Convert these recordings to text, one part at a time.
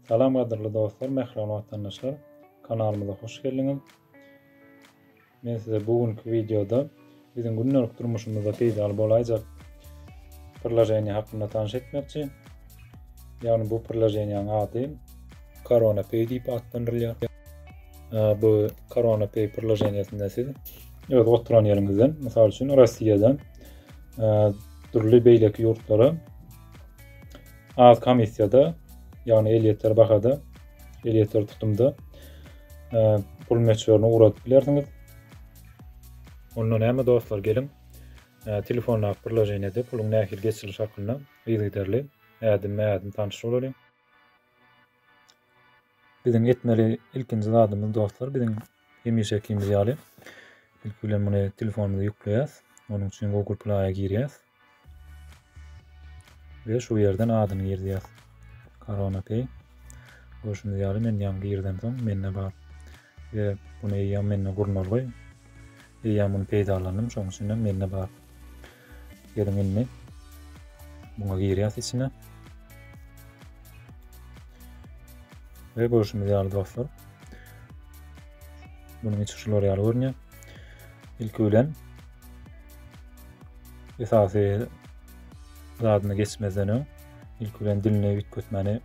Salam gadyrly dostlar, mähriban watandaşlar. Kanalymyza hoş geldiňiz. Men size bu günki videoda biziň gündelik durmuşymyzda peýdaly bolaýjak priloženiýe hakynda tanyş etmekçi. Ýagny bu priloženiýanyň ady Corona Pay diýip atlandyrylýar. bu Corona Pay priloženiýesinde siz öz oturan ýeriňizden, mysal üçin Russiýadan dürli beýleki ýurtlara az komissiýada, ýagny elýeter bahada, elýeter tutumda pul möçberini ugradyp bilersiňiz. Onda näme dostlar, geliň telefonda priloženiýede puluň nähili geçiriliş hakynda yzygiderli ädim-ädim tanyşyp bolalyň. Biziň etmeli ilkinji zadymyz dostlar biziň hemişekimiz ýaly ilki bilen muny telefonymyza ýükleýäs. Onuň üçin Google Play-a girýäs. Ve şu yerden adyny girýäs. Corona Pay. Görşüňiz ýaly men ýaňy girdim soň mende bar. Ýa bunu eýýäm mende gurnalgy. Eýýäm bunu peýdalandym, şoň üçin hem mende bar. Geliň indi. Muňa girýäs içine. Ve görüşümüz ýaly dostlar. Bunun içi şular ýaly görünýär. Ilki bilen esasy zadyny geçmezden öň ilki bilen dilini üýtgetmäni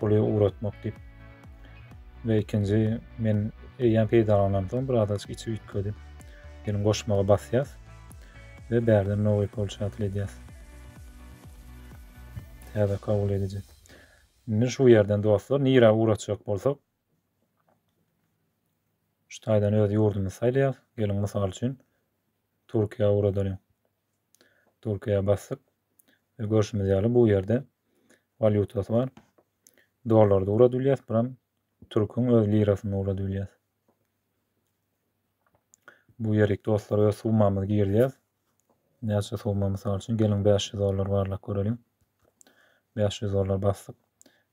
puly ugratmak diýip. Ve ikinji men eýýäm peýdalanan soň bir azajyk içi üýtgedi. Gelin goşmaga basýas ve bärden nowy polşatel edýas. Täze kabul ediji. Indi şu ýerden dostlar nirä ugratjak bolsak şu taýdan öz ýurdumyzy saýlaýas. Gelin mysal üçin Türkiýä ugradalyň. Türkiýä basdyk. Ve görşümiz ýaly bu ýerde walýutasy bar. Dollarda ugrady bilýäs, buram türküň öz lirasynda ugrady bilýäs. Bu ýerik dostlar öz summamyzy girýäs. Näçe summa mysal üçin geliň 500 dollar barlap göreliň. 500 dollar basdyk.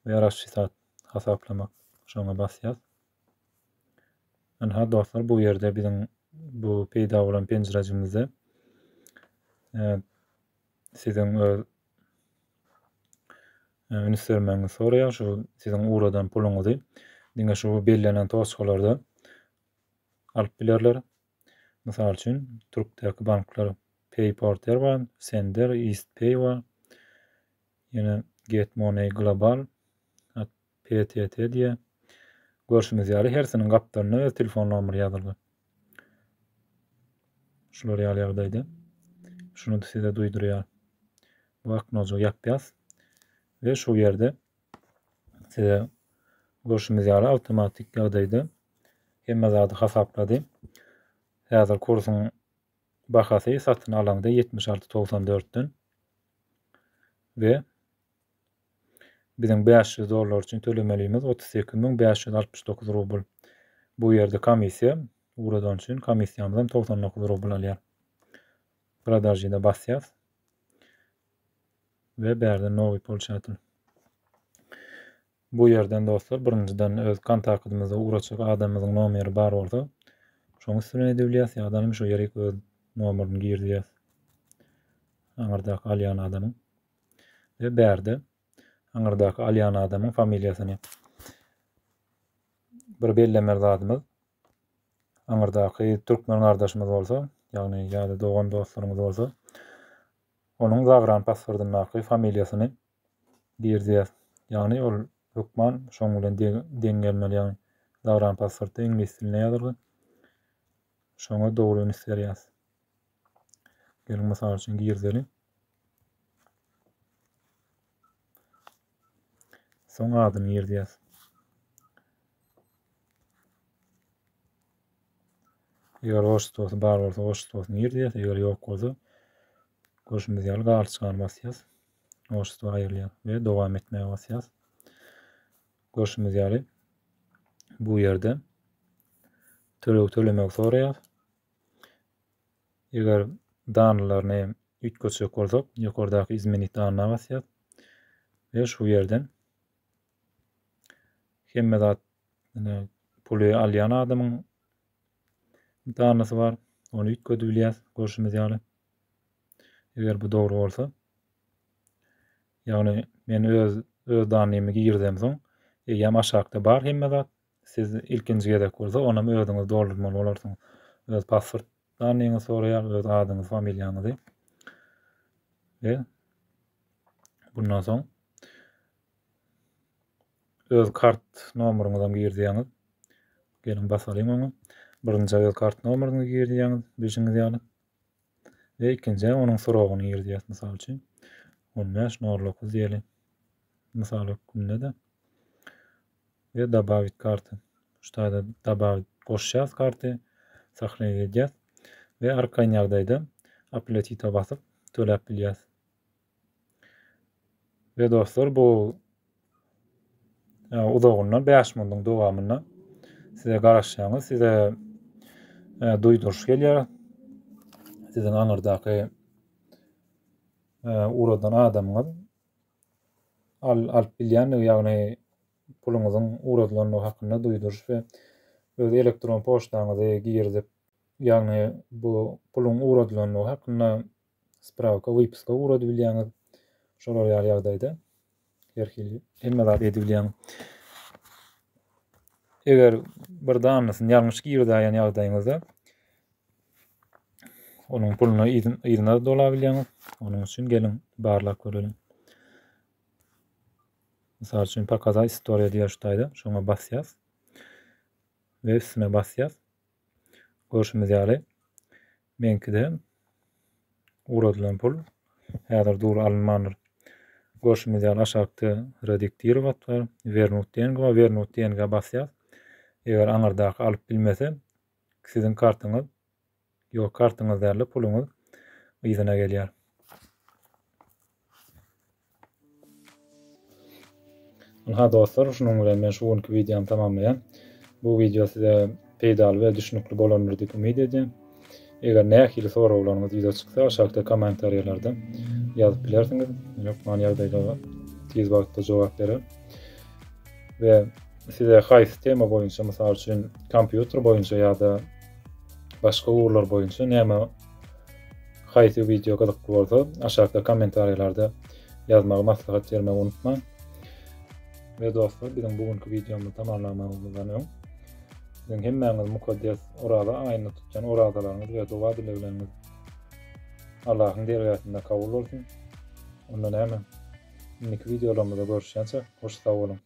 Ve raşşisat hasaplamak şoňa basýas. Ynha dostlar bu ýerde biziň bu peýda bolan penjirejimizde e, siziň öz e, üns bermegiňizi soraýar şu siziň ugradan puluňyzy diňe şu bellenen toçkalarda alyp bilerler. Mysal üçin Türkdäki banklar PayPorter bar, Sender, EastPay bar. Ýene Get Money Global PTT diýýär. Görşüňiz ýaly hersiniň gapdalyna öz telefon nomeri ýazylgy. Şular ýaly ýagdaýda. Şuny size duýdurýar. Bu aknojygy ýapýas. Ve şu ýerde size görşümiz ýaly awtomatik ýagdaýda hemme zady hasaplady. Häzir kursuň bahasy satyn alaňda 76.94-den we Biziň bäş ýüz dollar üçin tölemelimiz otuz sekiz müň bäş ýüz altmyş dokuz rubl. Bu ýerde komissiýa ugradany üçin komissiýamyzam togsan dokuz rubl alýar. Продажи-de basýas. We bärde nowy polşatyl. Bu ýerden dostlar birinjiden öz kontaktymyzda ugraçak adamymyzyň nomeri bar bolsa, şoň üstüne edebilýäs ýa-da şu ýerik öz nomerini girdýäs. Aňyrdaky alýan adamyň. we bärde aňyrdaky alýan adamyň familiýasyny bir bellemeli zadymyz aňyrdaky türkmen gardaşymyz bolsa ýagny ýa-da dogan dostlaryňyz bolsa onuň zagran pasportyndaky familiýasyny girýär ýagny ol hökman şoň bilen deň gelmeli ýagny zagran pasportda iňlis dilinde ýazylgy şoňa dogry üns berýäs Geliň mysal üçin girdeli. Soň adyny girdýäs. Eger oştosy bar bolsa oştosyny girdýäs, eger ýok bolsa görşümiz ýaly galçygan basýas. Oşto aýrylýar we dowam etmäge basýas. Görşümiz ýaly bu ýerde töleg tölemek soraýar. Eger danlaryny üýtgetjek bolsak, ýokardaky izmenit danyna basýas we şu ýerden hemme zat puly alýan adamyň danasy bar. Ony üýtgedip bilýäs, görşümiz ýaly. Eger bu dogry bolsa, ýagny men öz öz danymy girdem soň, eýýäm aşakda bar hemme zat. Siz ilkinji gezek bolsa, onam özüňiz doldurmaly bolarsyňyz. Öz pasport danyňyzy soraýar, öz adyňyzy, familiýaňyzy. Ve bundan soň öz kart nomeryňyzy hem girdýäňiz. Geliň basalyň oňa. Birinji öz kart nomeryňyzy girdýäňiz, bilşiňiz ýaly. we ikinji aý onuň srogyny girýär, mysal üçin, on bäş, nol dokuz diýeli, mysal hökmünde-de we dobawit karty. Şu taýda dobawit goşýas karty, sahneye edýäs we arkaýyn ýagdaýda aplatita basyp töläp bilýäs. Ve dostlar bu e, uzagyndan 5 minutyň dowamynda size garaşýaňyz, size e, duýduryş gelýär. Siziň aňyrdaky e, uradan adamyňyz al, alyp bilýändigi, ýagny puluňyzyň uradylandygy hakynda duýduryş we öz elektron poçtaňyzy girizip, ýagny bu puluň uradylandygy hakynda sprawka, wypiska ugradybilýäňiz. Şolar ýaly ýagdaýda her hili hemme zat edibilýäňiz. Eger bir danysyny ýalňyş girdäýen ýagdaýyňyzda onuň puluna yzyna dolabilýäňiz. Onuň üçin geliň barlap göreliň. Mysal üçin pokazat istoriýa diýýär şu taýda. Şoňa basýas. Ve üstüne basýas. Görşümiz ýaly Meňkide ugradylan pul häzir dury alynmandyr. Görşümiz ýaly aşakda rediktir gat bar, wernut dng bar, wernut dng basýas. Eger aňyrdaky alyp bilmese, siziň kartyňyz, ýok kartyňyz dälde puluňyz yzyna gelýär. Ynha dostlar, şunuň bilen men şu günki wideomy tamamlaýan. Bu wideo size peýdaly we düşnükli bolandyr diýip umyt edýän. Eger nähili soraglaryňyz ýüze çyksa, aşakda kommentariýalarda ýazyp bilersiňiz. Men hökman ýagdaýlara tiz wagtda jogap bererin. We size haýsy tema boýunça, mysal üçin, kompýuter boýunça ýa-da başga ugurlar boýunça näme Haýsy wideo gyzykly bolsa, aşakda kommentariýalarda ýazmagy maslahat bermegi unutmaň. We dostlar, biziň bu günki wideomyzy tamamlamazymyzdan öň, siziň hemmäňiz mukaddes Oraza aýynda tutýan orazalaryňyz we doga-dilegleriňiz Allahyň dergähinde kabul bolsun. Onda näme? Indiki wideolarymyzda görüşýänçä, hoş sag boluň!